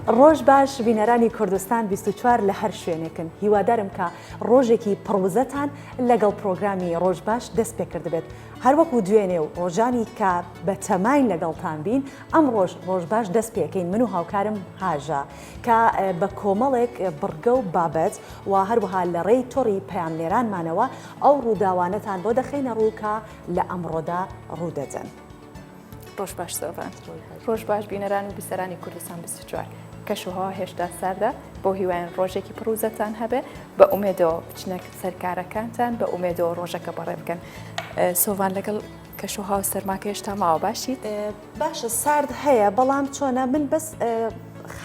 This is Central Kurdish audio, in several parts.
ڕۆژ باش بینەرانی کوردستان 24 لە هەر شوێنێکن هیوادارم کە ڕۆژێکی پڕوزەتان لەگەڵ پرۆگرامی ڕۆژ باش دەست پێکرد بێت هەروەکو دوێنێ و ڕۆژانی کە بە تەماین لەگەڵتان بین ئەم ڕۆژ ڕۆژ باش دەست پێکەین من و هاوکارم هاژە کە بە کۆمەڵێک بڕگە و بابەت و هەروەها لە ڕێی تۆڕی پەیامنێرانمانەوە ئەو ڕووداوانەتان بۆ دەخەینە ڕوو کە لە ئەمڕۆدا ڕوودەدەن. ڕۆژ باش سۆڤان ڕۆژ باش بینەران و بیسەرانی کوردستان بیست و چوار کەشوهەوا هێشتا ساردە بۆ هیوایان ڕۆژێکی پڕوزەتان هەبێ بە ئومێدەوە بچنە سەر کارەکانتان بە ئومێدەوە ڕۆژەکە بەڕێ بکەن سۆڤان لەگەڵ کەش و هاو سەرماکە هێشتا ماوە باشیت؟ باشە سارد هەیە بەڵام چۆنە من بەس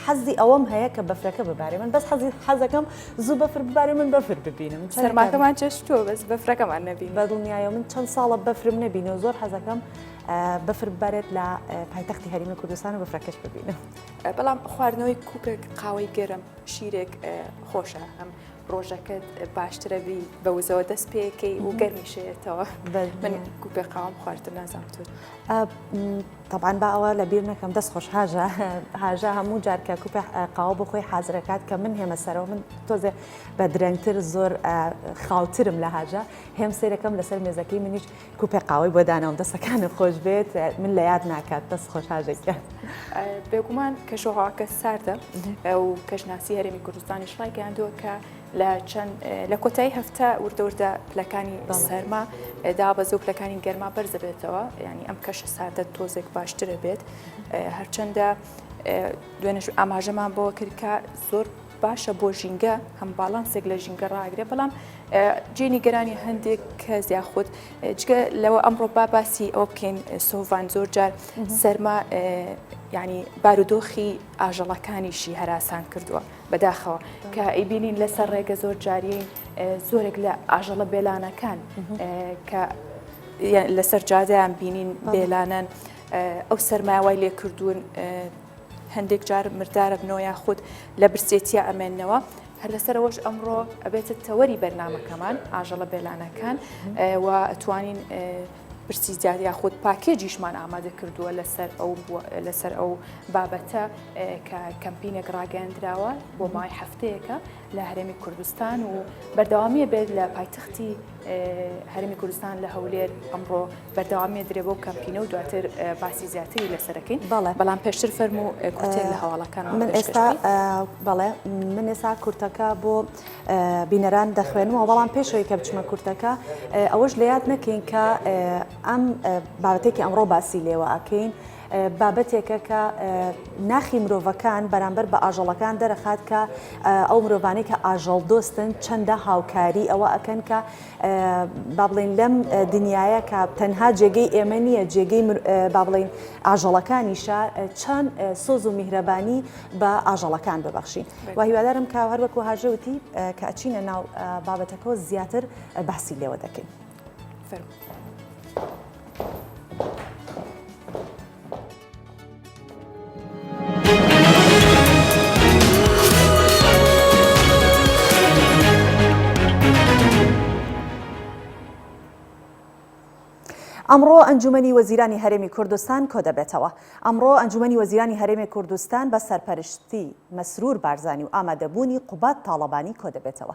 حەزی ئەوەم هەیە کە بەفرەکە ببارێ من بەس حەزی حەزەکەم زوو بەفر ببارێ من بەفر ببینم سەرماکەمان چێشتووە بەس بەفرەکەمان نەبی بە دڵنیایە من چەند ساڵە بەفرم نەبینە و زۆر حەزەکەم بەفر ببارێت لە پایتەختی هەرمی کوردستان و بەفرەکەش ببینم بەڵام خواردنەوەی کوکێک قاوەی گەرم شیرێک خۆشە هەم ڕۆژەکەت باشترە بی بە وزەوە دەست پێەکەی و گەرمیشێتەوە من کوپێ قاوم خواردن نازام تو طبعاان با ئەوە لە بیر نەکەم دەست خۆش هاژە هاژە هەموو جارکە کوپە قاوە بۆ خۆی حازرەکات کە من هێمە سەرەوە من تۆزێ بە درەنگتر زۆر خاوترم لە هاژە هێم سێرەکەم لەسەر مێزەکەی منیش کوپێک قاوەی بۆ دانەوەم دەستەکانت خۆش بێت من لە یاد ناکات دەست خۆش هاژێکیان بێگومان کەشۆهاکە ساردە و کەشناسی هەرێمی کوردستانی شڵای گەیاندووە کە لە چەند لە کۆتایی هەفتە وردەوردە پلەکانی سەرما دابەز و پلەکانی گەرما بەرزەبێتەوە ینی ئەم کەشە ساردە تۆزێک باشترە بێت هەرچەندە دوێنش ئاماژەمان بۆ کردکە زۆر باشە بۆ ژینگە هەم باڵانسێک لە ژینگە ڕاگرێ بەڵام جێ نیگەرانی هەندێک کەس یاخود جگە لەوە ئەمڕۆ با باسی ئەوە بکەین سۆڤان زۆر جار سەرما ینی بارودۆخی ئاژەڵەکانیشی هەراسان کردووە بەداخەوە کە ئەیبینین لەسەر ڕێگە زۆر جاریین زۆرێک لە ئاژەڵە بێلانەکان کە لەسەر جادیان بینین بێلانەن ئەو سەرماوای لێ کردوون هەندێک جار مردارەبنەوە یاخود لە برسێتیە ئەمێنەوە هەر لەسەرەوەش ئەمڕۆ ئەبێتە تەوەری بەرنمەکەمان ئاژەڵە بێلانەکان و ئەتوانین پرسی زیاد یاخود پاکێجیشمان ئامادە کردووە لەسەر ئەو لەسەر ئەو بابەتە کە کەمپینێک ڕاگەندراوە بۆ مای هەفتەیەەکە لە هەرێمی کوردستان و بەردەوامیە بێت لە پایتەختی هەرمی کوردستان لە هەولێر ئەمڕۆ بەردەوامیە درێ بۆ کەمپینە و دواتر باسی زیاتری لەسەرەکەین بەڵێ بەڵام پێشتر فەرم و کوتێن لە هەواڵەکان من ئێستا بەڵێ من ئێستا کورتەکە بۆ بینەران دەخوێنمەوە بەڵام پێشەوەی کە بچمە کورتەکە ئەوەش لە یاد نەکەین کە ئەم بابەتێکی ئەمڕۆ باسی لێوە ئەکەین بابەتێکە کە ناخی مرۆڤەکان بەرامبەر بە ئاژەڵەکان دەرەخات کە ئەو مرۆڤانەی کە ئاژەڵ دۆستن چەندە هاوکاری ئەوە ئەکەن کە با بڵین لەم دنیاە کە تەنها جێگەی ئێمە نییە جێگەی با بڵین ئاژەڵەکانیشە چەند سۆز و میهرەبانی بە ئاژەڵەکان ببەخشین و هیوادارم کە هەروەکو هاژەوتی کە ئەچینە ناو بابەتەکە زیاتر بەسی لێوە دەکەین. ئەمڕۆ ئەنجومی وەزیرانی هەرێمی کوردستان کۆ دەبێتەوە ئەمڕۆ ئەنجومی وەزیرانی هەرێمی کوردستان بە سەرپەرشتی مەسرور بارزانانی و ئامادەبوونی قوبات تاڵەبانی کۆ دەبێتەوە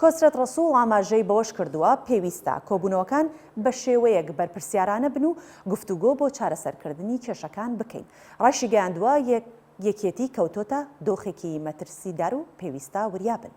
کۆسرەت ڕەسوڵ ئاماژەی بەوەشکردووە، پێویستە کۆبوونەوەکان بەشێوەیەک بەرپرسیارانە بن و گفتوگۆ بۆ چارەسەرکردنی کێشەکان بکەین، ڕایشیگەیاندووە، یەکێتی کەوتۆتە دۆخێکی مەترسیدار و پێویستە وریا بن.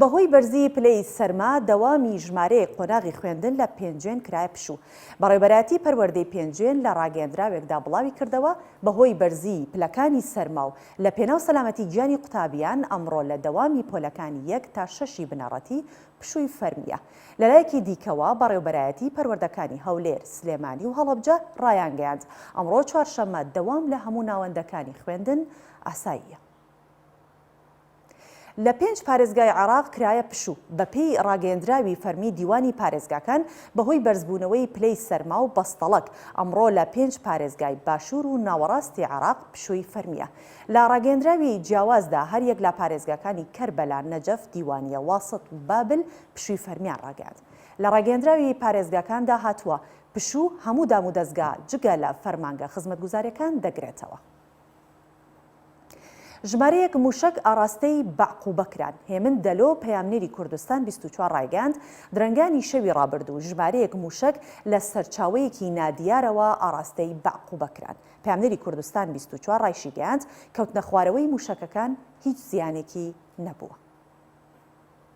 بەهۆی بەرزی پلەی سەرما دەوامی ژمارەیەک قۆناغی خوێندن لە پێنجوێن کرایە پشوو. بەڕێوبەرایەتی پەروەردەی پێنجوێن لە ڕاگەیەندراوێکدا بڵاویکردەوە، بەهۆی بەرزی پلەکانی سەرما و لە پێناو سەلامەتی گیانی قوتابیان، ئەمڕۆ لە دەوامی پۆلەکانی یەک تا شەشی بنەڕەتی پشووی فەرمییە. لەلایەکی دیکەوە، بەڕێوبەرایەتی پەروەردەکانی هەولێر، سلێمانی و هەڵەبجە رایانگەیاند، ئەمڕۆ چوارشەممە دەوام لە هەموو ناوەندەکانی خوێندن ئاساییە. لە پێنج پارێزگای عێراق کرایە پشوو، بەپێی ڕاگەیەندراوی فەرمی دیوانی پارێزگاکان، بەهۆی بەرزبوونەوەی پلەی سەرما و بەستەڵەک، ئەمڕۆ لە پێنج پارێزگای باشوور و ناوەڕاستی عێراق پشووی فەرمییە. لە ڕاگەیەندراوی جیاوازدا هەریەک لە پارێزگاکانی کەربەلا، نەجەف، دیوانیە، واسط و بابل پشووی فەرمییان ڕاگەیاند. لە ڕاگەیەندراوی پارێزگاکاندا هاتووە، پشوو هەموو دامودەزگا جگە لە فەرمانگە خزمەتگوزارییەکان دەگرێتەوە. ژمارەیەک مووشەک ئاڕاستەی بەعقوبە کران. هێمن دەلۆ، پەیامنێری کوردستان بیست و چوار ڕایگەیاند، درەنگانی شەوی ڕابردوو ژمارەیەک مووشەک لە سەرچاوەیەکی نادیارەوە ئاڕاستەی بەعقوبە کران. پەیامنێری کوردستان بیست و چوار ڕایشیگەیاند، کەوتنەخوارەوەی مووشەکەکان هیچ زیانێکی نەبووە.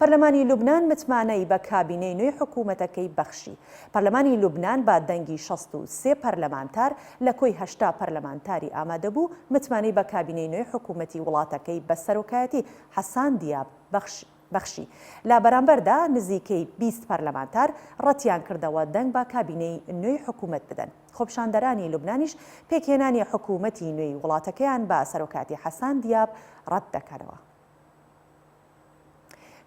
پەرلەمانی لوبنان متمانەی بە کابینەی نوێی حکوومەتەکەی بەخشی. پەرلەمانی لوبنان بە دەنگی شەست و سێ پەرلەمانتار لە کۆی هەشتا پەرلەمانتاری ئامادەبوو، متمانەی بە کابینەی نوێی حکوومەتی وڵاتەکەی بە سەرۆکایەتی حەسان دیاب بەخشی بەخشی. لە بەرامبەردا نزیکەی بیست پەرلەمانتار ڕەتیان کردەوە دەنگ بە کابینەی نوێی حکوومەت بدەن. خۆپیشاندەرانی لوبنانیش پێکهێنانی حکوومەتی نوێی وڵاتەکەیان بە سەرۆکایەتی حەسان دیاب ڕەت دەکەنەوە.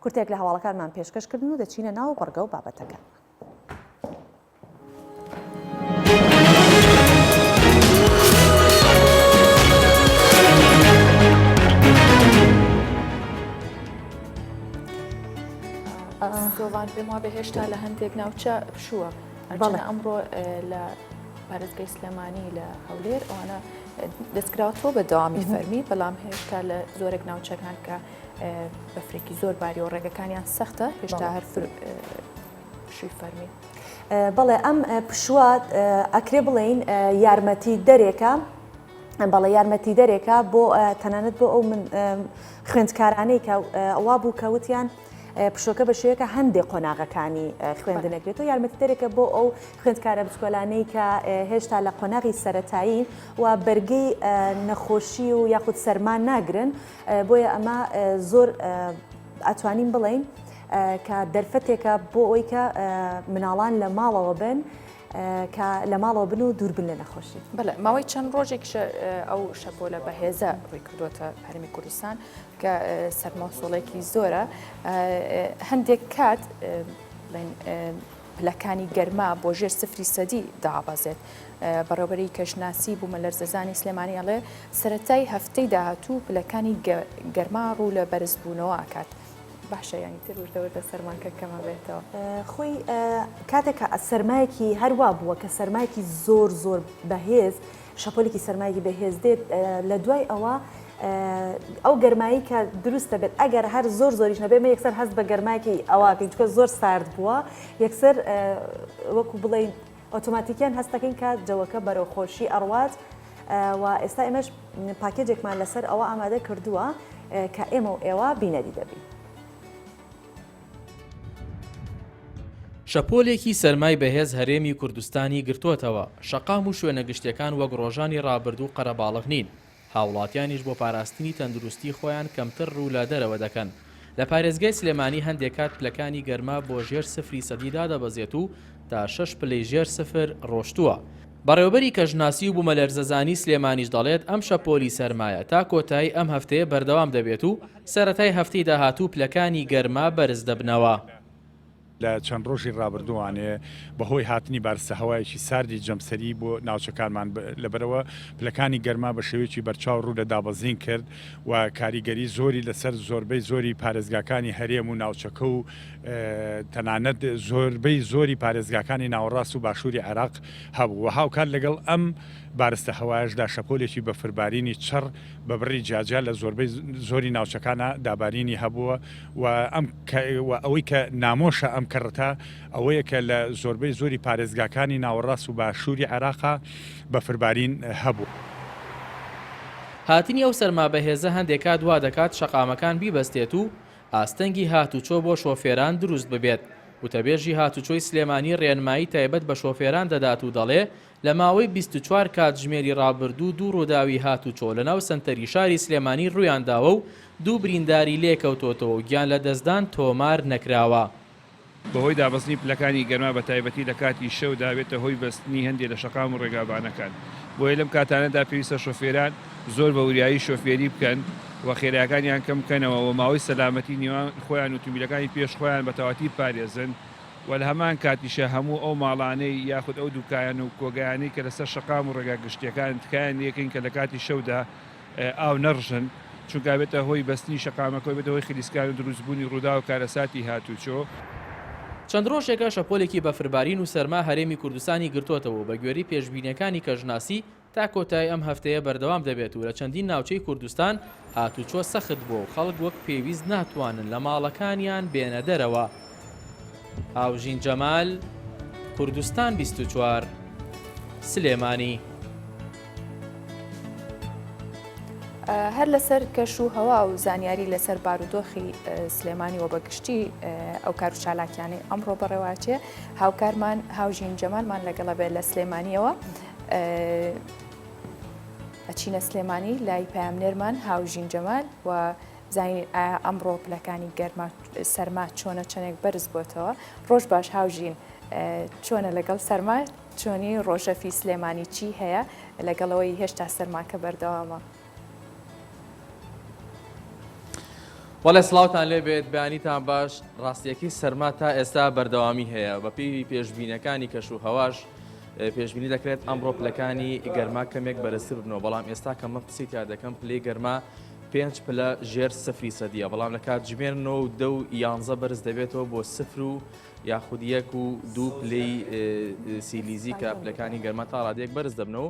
کورتێک لە هەواڵەکانمان پێشکەش کردن و دەچینە ناو بڕگە و بابەتەکان. گۆڤان پێم وا بەهێشتا لە هەندێک ناوچە پشووە ئەمڕۆ لە پارێزگەی سلێمانی لە هەولێر ئەوانە دەستکراوەتەوە بە دەوامی فەرمی، بەڵام هێشتا لە زۆرێک ناوچەکان کە بەفرێکی زۆر باری و ڕێگەکانیان سەختە هێشتا هەر شوی فەرمی. بەڵێ ئەم پشووە ئەکرێ بڵێین یارمەتی دەرێکە بەڵێ یارمەتی دەرێکە بۆ تەنانەت بۆ ئەو من خوێندکارانەی کە ئەوا بوو کەوتیان پشۆکە بە شێوەکە هەندێک قۆناغەکانی خوێندنەکرێت و یارمەتیدەرێکە بۆ ئەو خوێندکارە بچکۆلانەی کە هێشتا لە قۆناغی سەتایی و بەرگی نەخۆشی و یاخود سەرمان ناگرن بۆیە ئەمە زۆر ئەتوانین بڵین کە دەرفەتێکە بۆ ئەوی کە مناڵان لە ماڵەوە بن کە لە ماڵەوە بن و دووربن لە نەخۆشی بەڵێ ماوەی چەند ڕۆژێک ئەو شەپۆلە بەهێزە ڕێکردوتە هەرمی کوردستان کە سەرمۆسۆڵێکی زۆرە هەندێک کات پلەکانی گەرما بۆ ژێر سفری سەدی دابەزێت بەڕێوبەری کەشناسی بوومە لەرزەزانی سلێمانی ئەڵێ سەتای هەفتەی داهاتوو پلەکانی گەرما ڕوو لە بەرزبوونەوە ئاکات. باشە ینی تر وردەوردە سەرماکە کەمە بێتەوە خۆی کاتێکە سەرمایەکی هەروا بووە کە سەرمایەکی زۆر زۆر بەهێز شەپۆلێکی سەرمایەکی بەهێز دێت لە دوای ئەوە ئەو گەرمایی کە دروست دەبێت ئەگەر هەر زۆر زۆریش نەبێت مە یەکسەر هەست بە گەرماکی ئەوواکەین چکە زۆر سارد بووە یەکسەر وەکو بڵین ئۆتۆماتیکیان هەستەکەین کە جەوەکە بەرەو خۆشی ئەڕوات و ئێستا ئێمەش پاکێجێکمان لەسەر ئەوە ئامادە کردووە کە ئێمە و ئێوە بینەری دەبین. شەپۆلێکی سەرمای بەهێز هەرێمی کوردستانی گرتووەتەوە، شەقام و شوێنە گشتییەکان وەک ڕۆژانی ڕابردوو قەرەباڵغ نین، هاوڵاتیانیش بۆ پاراستنی تەندروستی خۆیان کەمتر ڕوو لە دەرەوە دەکەن، لە پارێزگای سلێمانی هەندێک کات پلەکانی گەرما بۆ ژێر سفری سەدی دادەبەزێت و تا شەش پلەی ژێر سفر ڕۆشتووە. بەڕێوەبەری کەشناسی و بوومەلەرزەزانی سلێمانیش دەڵێت، ئەم شەپۆلی سەرمایە تا کۆتایی ئەم هەفتەیە بەردەوام دەبێت و، سەرەتای هەفتەی داهاتوو پلەکانی گەرما بەرز دەبنەوە. لە چەند ڕۆژی ڕابردووانێ بەهۆی هاتنی بارستە هەوایەکی ساردی جەمسەری بۆ ناوچەکانمان لەبەرەوە پلەکانی گەرما بە شێوەیەکی بەرچاو ڕوو لە دابەزین کرد و کاریگەری زۆری لەسەر زۆربەی زۆری پارێزگاکانی هەرێم و ناوچەکە و تەنانەت زۆربەی زۆری پارێزگاکانی ناوەڕاست و باشووری عێراق هەبوو و هاوکات لەگەڵ ئەم بارستە هەوایەشدا شەپۆلێکی بەفربارینی چڕ بە بڕی جیاجیا لە زۆربەی زۆری ناوچەکانا دابارینی هەبووە و ئەم و ئەوەی کە نامۆشە ئەم کەڕەتە ئەوەیە کە لە زۆربەی زۆری پارێزگاکانی ناوەڕاست و باشووری عێراقا بەفربارین هەبوو. هاتنی ئەو سەرما بەهێزە هەندێک کات وا دەکات شەقامەکان بیبەستێت و ئاستەنگی هاتوچۆ بۆ شۆفێران دروست ببێت، وتەبێژی هاتوچۆی سلێمانی رێنمایی تایبەت بە شۆفێران دەدات و دەڵێ، لە ماوەی بیست و چوار کاتژمێری ڕابردوو دوو ڕووداوی هاتووچۆ لەناو سەنتەری شاری سلێمانی ڕوویانداوە و دوو برینداری لێکەوتۆتەوە و گیانلەدەستدان تۆمار نەکراوە. بەهۆی دابەزنی پلەکانی گەرما بەتایبەتی لە کاتی شەودا بێتە هۆی بەستنی هەندێ لە شەقام و ڕێگابانەکان بۆیە لەم کاتانەدا پێویستە شۆفێران زۆر بە وریایی شۆفێری بکەن و خێرایەکانیان کەم بکەنەوە و ماوەی سەلامەتی نێوان خۆیان و تومبیلەکانی پێش خۆیان بە تەواتیر بپارێزن. و لە هەمان کاتیشا هەموو ئەو ماڵانەی یاخود ئەو دوکایان و کۆگایانەی کە لەسەر شەقام و ڕێگا گشتییەکانن تکایان لێکەین کە لە کاتی شەودا ئاو نەڕژن چونکە ئەبێتە هۆی بەستنی شەقامەکە و ئەبێتە هۆی خلیسکان و دروستبوونی ڕووداو و کارەساتی هاتووچۆ. چەند ڕۆژێکە شەپۆلێکی بەفربارین و سەرما هەرێمی کوردستانی گرتۆتەوە و بەگوێرەی پێشبینییەکانی کەشناسی، تا کۆتایی ئەم هەفتەیە بەردەوام دەبێت و لە چەندین ناوچەی کوردستان هاتووچۆ سەخت بووە و خەڵک وەک پێویست ناتوانن لە ماڵەکانیان بێنە دەرەوە. هاوژین جەمال، کوردستان بیست و چوار، سلێمانی. هەر لەسەر کەش و هەوا و زانیاری لەسەر بارودۆخی سلێمانی و بەگشتی ئەو کار و چالاکیانەی ئەمڕۆ بەڕێواچێ هاوکارمان هاوژین جەمالمان لەگەڵە بێت لە سلێمانیەوە ئەچینە سلێمانی لای پامنێرمان هاوژین جەمال و زانین ئەمڕۆ پلەکانی گەرما سەرما چۆنە چەندێک بەرز بۆتەوە ڕۆژ باش هاوژین چۆنە لەگەڵ سەرما چۆنی ڕۆژەفی سلێمانی چی هەیە لەگەڵەوەی هێشتا سەرماکە بەردەوامە. بەڵێ سڵاوتان لێبێت بەیانیتان باش ڕاستیەکەی سەرما تا ئێستا بەردەوامی هەیە بە پێوی پێشببینەکانی کەش و هەواش پێشببینی دەکرێت ئەم ڕۆپلەکانی گەرما کەمێک بەرزتر بنەوە بەڵام ئێستا کە من قسەی تا دەکەم پلی گەرما پێنج پلە ژێر سفری سەدیە بەڵام لە کات ژمێر نۆ و دە و یانزە بەرز دەبێتەوە بۆ سفر و یاخودیەک و دوو پلی سیلیزی کە پلەکانی گەرمە تا ڕادێک بەرز دەبنەوە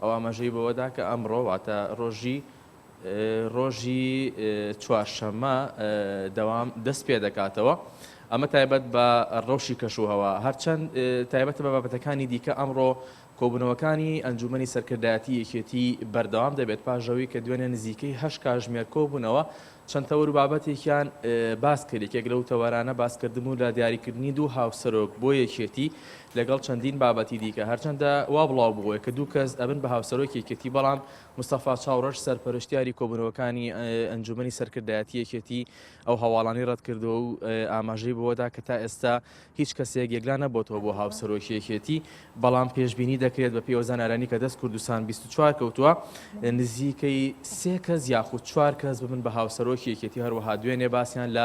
ئەو ئاماژەی بەوەدا کە ئەمڕۆ واتە ڕۆژی ڕۆژی چوارشەممە دەوام دەست پێ دەکاتەوە، ئەمە تایبەت بە ڕەوشی کەشوهەوا، هەرچەند تایبەتە بە بابەتەکانی دیکە ئەمڕۆ کۆبوونەوەکانی ئەنجوومەنی سەرکردایەتی یەکێتی بەردەوام دەبێت پاش ئەوەی کە دوێنێ نزیکەی هەشت کاژمێر کۆبوونەوە چەند تەوەر و بابەتێکیان باس کرد یەکێک لەو تەوەرانە باسکردن بوو لە دیاریکردنی دوو هاوسەرۆک بۆ یەکێتی لەگەڵ چەندین بابەتی دیکە، هەرچەندە وا بڵاو بووە کە دوو کەس ئەبن بە هاوسەرۆکی یەکێتی، بەڵام مستەفا چاوڕەش سەرپەرشتیاری کۆبوونەوەکانی ئەنجوومەنی سەرکردایەتی یەکێتی ئەو هەواڵانەی ڕەت کردەوە و ئاماژەی بەوە دا کە تا ئێستا هیچ کەسێک یەکلا نەبۆتەوە بۆ هاوسەرۆکی یەکێتی، بەڵام پێشبینی دەکرێت بە پێی ئەو زانیارانەی کە دەست کوردستان بیست و چوار کەوتووە نزیکەی سێ کەس یاخود چوار کەس ببن بە هاوسەرۆکی یەکێتی، هەروەها دوێنێ باسیان لە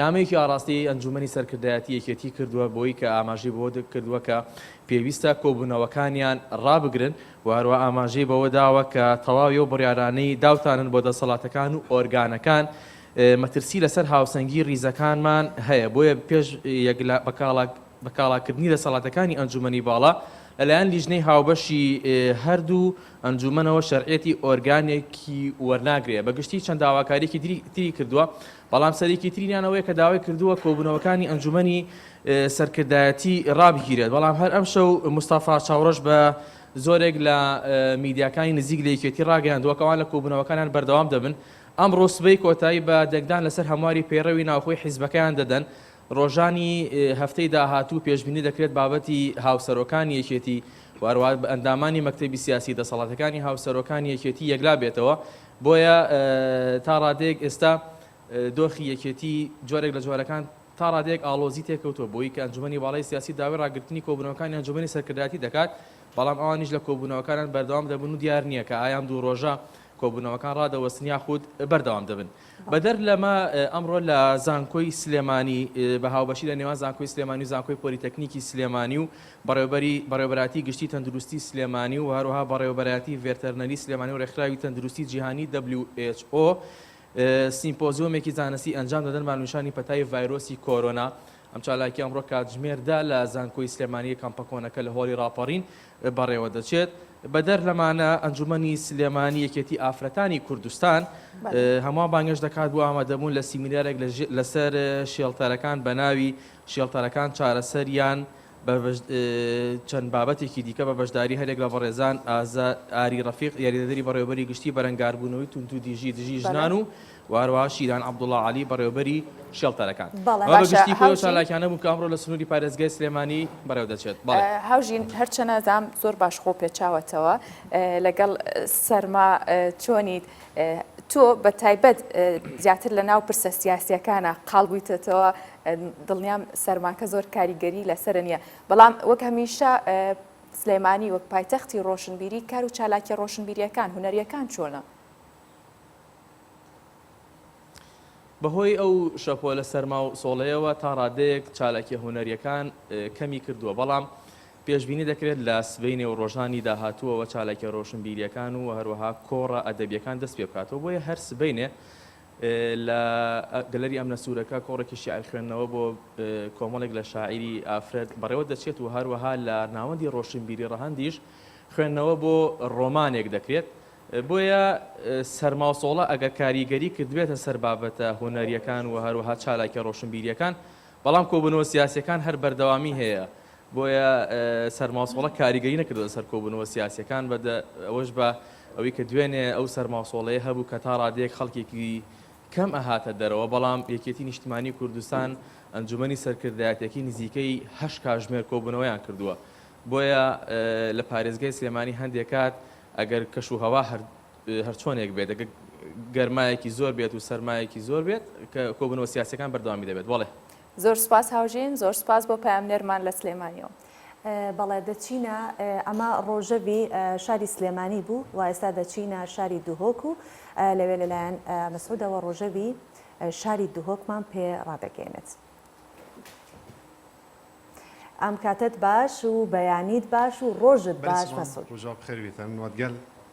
نامەیەکی ئاڕاستەی ئەنجوومەنی سەرکردایەتی یەکێتی کردووە بۆی کە ئاماژەی بەوەکردووە کە پێویستە کۆبوونەوەکانیان ڕابگرن و هەروەها ئاماژەی بەوەداوە کە تەواوی ئەو بڕیارانەی داوتانن بۆ دەسەڵاتەکان و ئۆرگانەکان مەترسی لەسەر هاوسەنگی ڕیزەکانمان هەیە بۆیە پێش یەکلا بەکاڵاک بەکاڵاکردنی دەسەڵاتەکانی ئەنجوومەنی باڵا لەلایەن لیژنەی هاوبەشی هەردوو ئەنجوومەنەوە شەرعەتی ئۆرگانێکی وەرناگرێ بەگشتی چەند داواکاریکی تری کردووە بەڵام سەرەکیترینیان ئەوەیە کە داوای کردووە کۆبوونەوەکانی ئەنجوومەنی سەرکردایەتی رابگیرێت، بەڵام هەر ئەمشەو مستەفا چاوڕەش بە زۆرێک لە میدیاکانی نزیک لە یەکێتی راگەیاندووە کە ئەوان لە کۆبوونەوەکانیان بەردەوام دەبن، ئەمڕۆ سبەی کۆتایی بە دەنگدان لەسەر هەمواری پەیڕەوی ناوخۆی حیزبەکەیان دەدەن، رۆژانی هەفتەی داهاتوو پێشبینی دەکرێت بابەتی هاوسەرۆکانی یەکێتی و هەروەها ئەندامانی مەکتەبی سیاسی دەسەڵاتەکانی هاوسەرۆکانی یەکێتی یەکلا بێتەوە، بۆیە تا ڕادەیەک ئێستا دۆخی یەکێتی جۆرێک لە جۆرەکان تا ڕادەیەک ئاڵۆزی تێکەوتووە بۆیی کە ئەنجومەنی باڵای سیاسی داوای ڕاگرتنی کۆبوونەوەکانی ئەنجومەنی سەرکردایەتی دەکات بەڵام ئەوانیش لە کۆبوونەوەکانان بەردەوام دەبن و دیار نییە کە ئایام دوو ڕۆژە کۆبوونەوەکان ڕادەوەستن یاخود بەردەوام دەبن بەدەر لەمە ئەمڕۆ لە زانکۆی سلێمانی بە هاوبەشی لە نێوان زانکۆی سلێمانی و زانکۆی پۆلیتەکنیکی سلێمانی و بەڕێوەبەری بەڕێوەبەرایەتی گشتی تەندروستی سلێمانی و هەروەها بەڕێوەبەرایەتی ڤێرتەرنەری سلێمانی و رێکخراوی تەندروستی جیهانی who سیمپۆزیۆمێکی زانستی ئەنجام دەدەن بە ناونیشانی پەتای ڤایرۆسی کۆرۆنا ئەم چالاکیە ئەمڕۆ کاتژمێر دە لە زانکۆی سلێمانی کەمپە کۆنەکە لە هۆڵی راپەڕین بەڕێوە دەچێت بەدەر لەمانە ئەنجومەنی سلێمانی یەکێتی ئافرەتانی کوردستان هەمووان بانگێش دەکات بۆ ئامادەبوون لە سیمینارێک لەسەر شێڵتەرەکان بەناوی شێڵتەرەکان چارەسەریان بە چەند بابەتێکی دیکە بە بەشداری هەریەک لە بەڕێزان ئازا ئاری ڕەفیق یاریدەدەری بەڕێوەبەری گشتی بەرەنگاربوونەوەی توندوتیژی دژی ژنان و و هەروەها شیران عەبدوڵڵا عەلی بەڕێوەبەری شێڵتەرەکان بەڵێ ئەمە بە باشە گشتی خۆی ئەو هاوژین چالاکیانە بوو کە ئەمڕۆ لە سنووری پارێزگای سلێمانی بەڕێوە دەچێت بەڵێ. ئە، هاوژین هەرچەنە زام زۆر باش خۆ پێچاوەتەوە ئە، لەگەڵ ئە، سەرما ئە، چۆنیت؟ ئە، تۆ بە تایبەت ئە، زیاتر لە ناو پرسە سیاسییەکانا قاڵ بوویتەتەوە، دڵنیام سەرماکە زۆر کاریگەری لەسەر نییە بەڵام وەک هەمیشە سلێمانی وەک پایتەختی ڕۆشنبیری کار و چالاکی ڕۆشنبیریەکان هوەریەکان چۆنە؟ بەهۆی ئەو شەپۆلە سەرما و سۆڵەیەوە تا ڕادەیەک چالاکیە هوەریەکان کەمی کردووە بەڵام پێشببینی دەکرێت لە سبینێ و ڕۆژانی داهاتووەوە چالاکیە ڕۆشنبیریەکان و هەروەها کۆڕە ئەدەبیەکان دەست پێ بکاتەوە بۆیە هەر سبینێ لە گەلەری ئەمنە سوورەکە کۆڕێکی شیعر خوێندنەوە بۆ کۆمەڵێک لە شاعیری ئافرەت بەڕێوە دەچێت و هەروەها لە ناوەندی ڕۆشنبیری ڕەهەندیش خوێندنەوە بۆ ڕۆمانێک دەکرێت. بۆیە سەرما و سۆڵە ئەگەر کاریگەری کردبێتە سەر بابەتە هونەرییەکان و هەروەها چالاکییە ڕۆشنبیرییەکان، بەڵام کۆبوونەوە سیاسییەکان هەر بەردەوامی هەیە، بۆیە سەرماسۆڵە کاریگەری نەکردووەتە سەر کۆبوونەوە سیاسییەکان، بە ئەوەش بە ئەوەی کە دوێنێ ئەو سەرماسۆڵەیە هەبوو کە تا ڕادەیەک خەڵکێکی کەم ئەهاتە دەرەوە، بەڵام یەکێتی نیشتمانی کوردستان، ئەنجومەنی سەرکردایەتیەکەی نزیکەی هەشت کاژمێر کۆبوونەوەیان کردووە، بۆیە لە پارێزگای سلێمانی هەندێک کات ئەگەر کەش و هەوا هەر. هەرچۆنێک بێت ئەگەر گەرمایەکی زۆر بێت و سەرمایەکی زۆر بێت کە کۆبوونەوە سیاسیەکان بەردەوامی دەبێت بەڵێ. زۆر سوپاس هاوژین زۆر سوپاس بۆ پەیامنێرمان لە سلێمانیەوە. بەڵێ دەچینە ئەمە ڕۆژەڤی شاری سلێمانی بوو و ئێستا دەچینە شاری دهۆک و لەوێ لەلایەن مسعودەوە ڕۆژەڤی شاری دهۆکمان پێ ڕادەگەیەنێت. ئەم کاتەت باش و بەیانیت باش و ڕۆژت باش مسعود.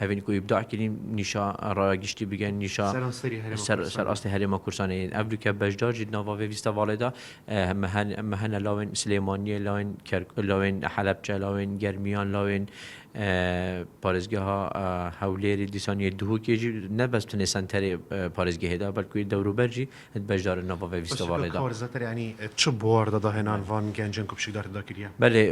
هەڤین کو ئیبداع کرین نیشا ڕا گشتی بگن نیشا سەر ئاستی هەرێمە کوردسانەیل ئەڤ دوو کە بەشدار جید ناڤا ڤێ ڤیستەڤاڵێ دا مەهەنە لاوێن سلێمانیە لاوێن کەرک لاوێن حەلەبچە لاوێن گەرمیان لاوێن پارێزگەها هەولێری دیسانیە دهۆکێ جی نە بەس تونێ سەنتەرێ پارێزگەێ دا بەلکوی دەوروبەر جی ت بەشدارە نۆ بەڤە ویستە وە ڕێدا. کار زەتر یانی چ بواردا داهێنان وان گەنجن کو پشکدار تدا کریە؟ بەلی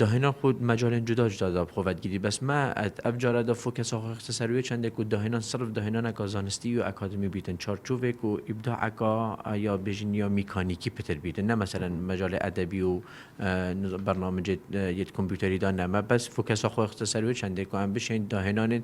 داهێنان خو مەجالێن جودا جودا دا خوەت گری بەس مە ئەت ئەڤ جارە دا فو کەسا خوە خستە سەر وێ چەندێ کو داهێنان سرف داهێنانەکا زانستی یا ئەکادمی بیتن چارچووێ کو ئیبداعەکا یا بێژین یا میکانیکی پتر بیتن نە مەسەلەن مەجالێ ئەدەبی و بەرنامجێ یەت کۆمپیوتەری دا نەمە بەس فو کەسا خوە خستە سەر وێ چەندێ کو ئەم بشێن داهێنانێن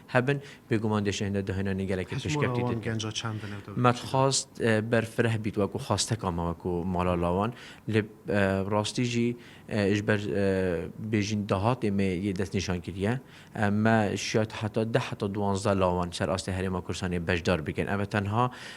هەبن، بێگومان دێشە هێندە داهێنانی گەلەکی پشکەفتی تر کەن. مەتخواست بەر فرە بیت وەکوو خواستەکا مە وەکوو مالا لاوان، لب راستی ژی ئێژ بەر بێژین داهاتێ مێ یێ دەس نیشان کریە، مە شیاد هەتا دە هەتا دوانزدە لاوان سەر ئاستێ هەرێما کوردسانێ بەشدار بکەن، ئەوە تەنها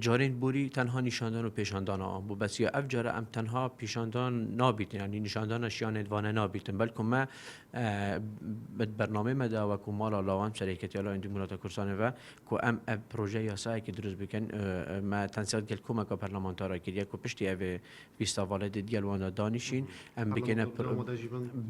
جارین بوری تەنها نیشاندان و پیشاندانە ئان بو بەسیە ئەف جارە ئەم تەنها پیشاندان نابیتن یانی نیشاندانە شیانێت وانە نابیتن بەلکم مە بەد بەرنامەی مەدا وەکو مالا لاوان سەرێکەتی لا ئەندی مولاتە کورسانەوە کو ئەم ئەب پروژە یاسایەکی دروست بکەن مە تەنسیات گەل کومەکە پەرلەمانتارا کریە کو پشتی ئەێ ئیستا ڤەڵێ دێت گەل واندا دانیشین ئەم بگەنە پر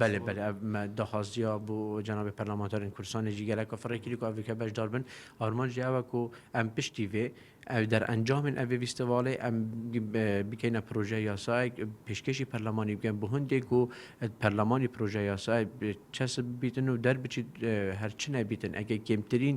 بەلێ بەلێ ئەمە داخواز جیا بۆ جەنابی پەرلەمانتارین کوردستانی جی گەلەکە فڕێکری کو ئەڤیکە بەشدار بن ئارمان جی ئەوە کو ئەم پشتی وێ ئەو دەرئەنجامن ئەڤێ ویستەواڵێ ئەم بکەینە پرۆژە یاسایەک پێشکەشی پەرلەمانی بکەن بۆ هەندێک و پەرلەمانی پرۆژە یاسای چەسب بیتن و دەربچیت هەرچنە بیتن ئەگەر کێمترین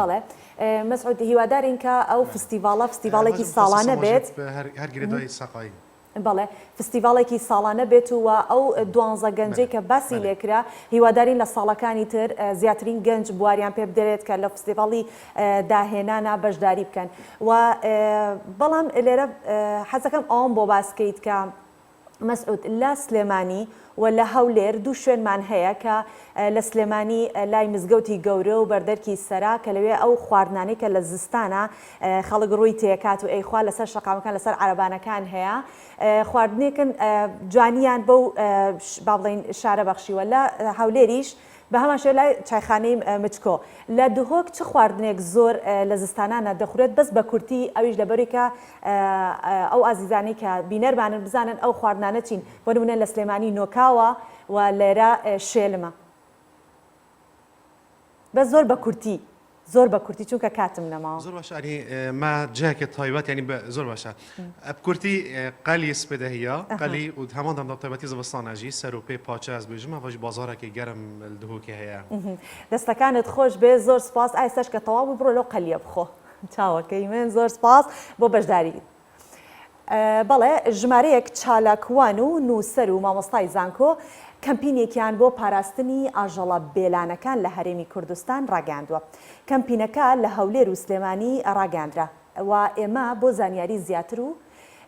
بەڵێ مەسعود هیوادارین کە ئەو فستیڤاڵە فستیڤاڵێکی ساڵانە بێت هەر گرێ دوای سەقایی. بەڵێ فستیڤاڵێکی ساڵانە بێت و وە ئەو دوانزە گەنجەی کە باسی لێکرا هیوادارین لە ساڵەکانی تر زیاترین گەنج بواریان پێ بدرێت کە لە فستیڤاڵی داهێنانا بەشداری بکەن و بەڵام لێرە حەزەکەم ئەوەم بۆ باس کەیت کە مەسعود، لە سلێمانی و لە هەولێر دوو شوێنمان هەیە کە لە سلێمانی لای مزگەوتی گەورە و بەردەرکی سەرا کە لەوێ ئەو خواردنانەی کە لە زستانە خەڵک ڕووی تێکات و ئەیخوا لەسەر شەقامەکان لەسەر عەرەبانەکان هەیە خواردنێکن جوانیان بەو با بڵێین شارە بەخشیوە لە هەولێریش بە هەمان شێوە لای چایخانەی مچکۆ لە دهۆک چ خواردنێک زۆر لە زستانانا دەخورێت بەس بە کورتی ئەویش لەبەری کە ئەو ئازیزانەی کە بینەرمانن بزانن ئەو خواردنانە چین بۆ نمونە لە سلێمانی نۆکاوە و لێرە شێلمە بەس زۆر بە کورتی. زۆر بە کورتی چونکە کاتم نەماوە. زۆر باشە ئەنی ما جاکێ تایبەت یانی بە زۆر باشە ئەب کورتی قەلی سپێدە هیە قەلی و هەمان دەم تایبەتی زڤستانە ژی سەر و پێ پاچە ئەز بێژم ئەڤەژ بازارەکەی گەرم دهۆکێ هەیە. دەستەکانت خۆش بێ زۆر سوپاس ئایستەش کە تەواو بوو بڕۆ لەو قەلیە بخۆ چاوەکەی من زۆر سوپاس بۆ بەشداریت. بەڵێ ژمارەیەک چالاکوان و نووسەر و مامۆستای زانکۆ کەمپینێکیان بۆ پاراستنی ئاژەڵە بێلانەکان لە هەرێمی کوردستان ڕاگەیاندووە. کەمپینەکە لە هەولێر و سلێمانی ڕاگەیاندرا و ئێمە بۆ زانیاری زیاتر و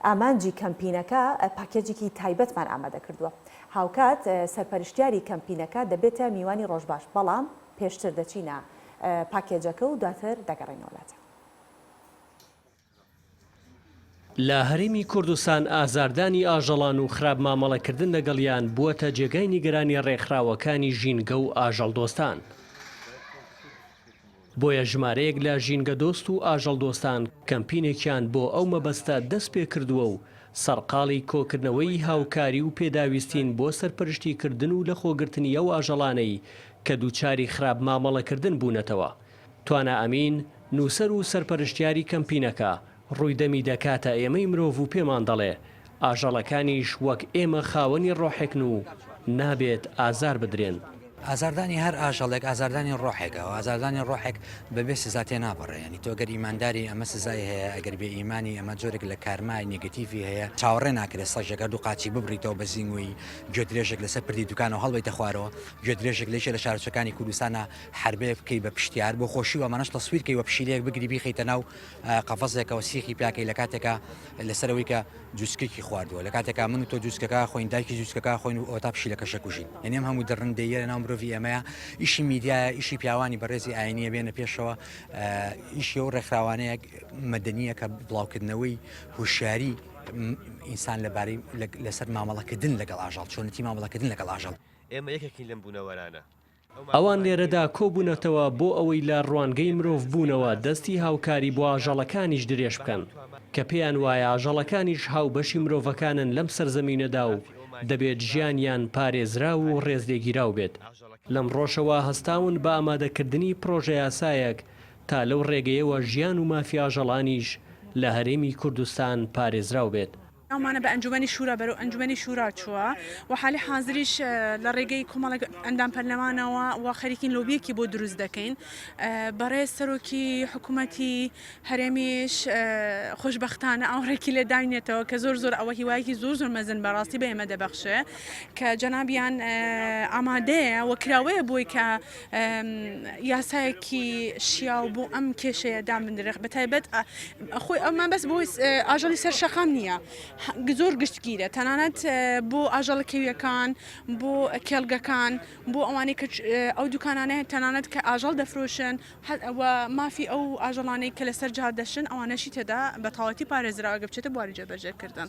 ئامانجی کەمپینەکە پاکێجێکی تایبەتمان ئامادە کردووە. هاوکات سەرپەرشتیاری کەمپینەکە دەبێتە میوانی ڕۆژباش، بەڵام پێشتر دەچینە پاکێجەکە و دواتر دەگەڕێینەوە لاتان. لە هەرێمی کوردستان ئازاردانی ئاژەڵان و خراپ مامەڵەکردن لەگەڵیان بووەتە جێگای نیگەرانی ڕێکخراوەکانی ژینگە و ئاژەڵدۆستان. بۆیە ژمارەیەک لە ژینگەدۆست و ئاژەڵدۆستان کەمپینێکیان بۆ ئەو مەبەستە دەستپێکردووە و سەرقاڵی کۆکردنەوەی هاوکاری و پێداویستین بۆ سەرپەرشتیکردن و لەخۆگرتنی ئەو ئاژەڵانەی کە دووچاری خراپ مامەڵەکردن بوونەتەوە توانا ئەمین، نووسەر و سەرپەرشتیاری کەمپینەکە، ڕووی دەمی دەکاتە ئێمەی مرۆڤ و پێمان دەڵێ، ئاژەڵەکانیش وەک ئێمە خاوەنی ڕۆحێکن و نابێت ئازار بدرێن. ئازاردانی هەر ئاژەڵێک ئازاردانی ڕۆحێکە و ئازاردانی ڕۆحێک بەبێ سزا تێناپەڕێ. یانی تۆ گەر ئیمانداری ئەمە سزای هەیە، ئەگەر بێ ئیمانی ئەمە جۆرێک لە کارمای نێگەتیڤی هەیە. چاوەڕێ ناکرێت سەگێک هەردوو قاچی ببڕیتەوە بە زینگوی گوێدرێژێک لەسەر پردی دوکانەوە هەڵبەیتە خوارەوە. گوێدرێژێک لە یەکێ لە شارۆچکەکانی کوردستانە حەربەیەک بکەی بە پشتیار بۆ خۆشی و ئەمانەش تەسویر کەی وە پشیلەیەک بگری بیخەیتە ناو قەفەزێکەوە سیخی پیاکەی لە کاتێکا لەسەر ئەوەی کە جوچکێکی خواردووە لە کاتێکا من و تۆ جوچکەکە خۆین دایکی جوچکەکە خۆین و ئەوتا پشیلەکەشە کوژین یعنی ئەم هەموو دڕندەییە لە ناو مرۆڤی ئێمەیە ئیشی میدیایە ئیشی پیاوانی بەڕێزی ئاینیە بێنە پێشەوە ئیشی و ڕێکخراوانەیە مەدەنیە کە بڵاوکردنەوەی هوشیاری ئینسان لەبارەی لەسەر مامەڵەکردن لەگەڵ ئاژەڵ چۆنێتی مامەڵەکردن لەگەڵ ئاژەڵ. ئێمە یەکێکین لەم بوونەوەرانە. ئەوان لێرەدا کۆبوونەتەوە بۆ ئەوەی لە ڕوانگەی مرۆڤبوونەوە دەستی هاوکاری بۆ ئاژەڵەکانیش درێژ بکەن، کە پێیان وایە ئاژەڵەکانیش هاوبەشی مرۆڤەکانن لەم سەرزەمینەدا و دەبێت ژیانیان پارێزراو و ڕێزلێگیراو بێت. لەمڕۆشەوە هەستاون بە ئامادەکردنی پڕۆژەیاسایەک تا لەو ڕێگەیەوە ژیان و مافی ئاژەڵانیش لە هەرێمی کوردستان پارێزراو بێت. ناومانە بە ئەنجومەنی شورا بەرەو ئەنجومەنی شورا چووە و حالی حازریش لە ڕێگەی کۆمەڵێک ئەندام پەرلەمانەوە و خەریکین لۆبیەکی بۆ دروست دەکەین بەڕێز سەرۆکی حکوومەتی هەرێمیش خۆشببختانە ئاوڕێکی لێ داینێتەوە کە زۆر زۆر ئەوە هیوایەکی زۆر زۆر مەزن بەڕاستی بە ئێمە دەبەخشێ کە جەنابیان ئامادەیە وەکراوەیە بۆی کە یاسایەکی شیاو بۆ ئەم کێشەیە دامنرخ بە تایبەت خۆی ئەومان بەس بۆ ئاژەڵی سەر شەقام نییە زۆر گشتگیرە تەنانەت بۆ ئاژەڵە کەویەکان بۆ کێڵگەکان بۆ ئەوانەی کە ئەو دوکانانەیە تەنانەت کە ئاژەڵ دەفرۆشن ئەوە مافی ئەو ئاژەڵانەی کە لەسەر جار دەشن ئەوانەشی تێدا بە تەواتی پارێزراگە بچێتە بواری جێبەجێکردن.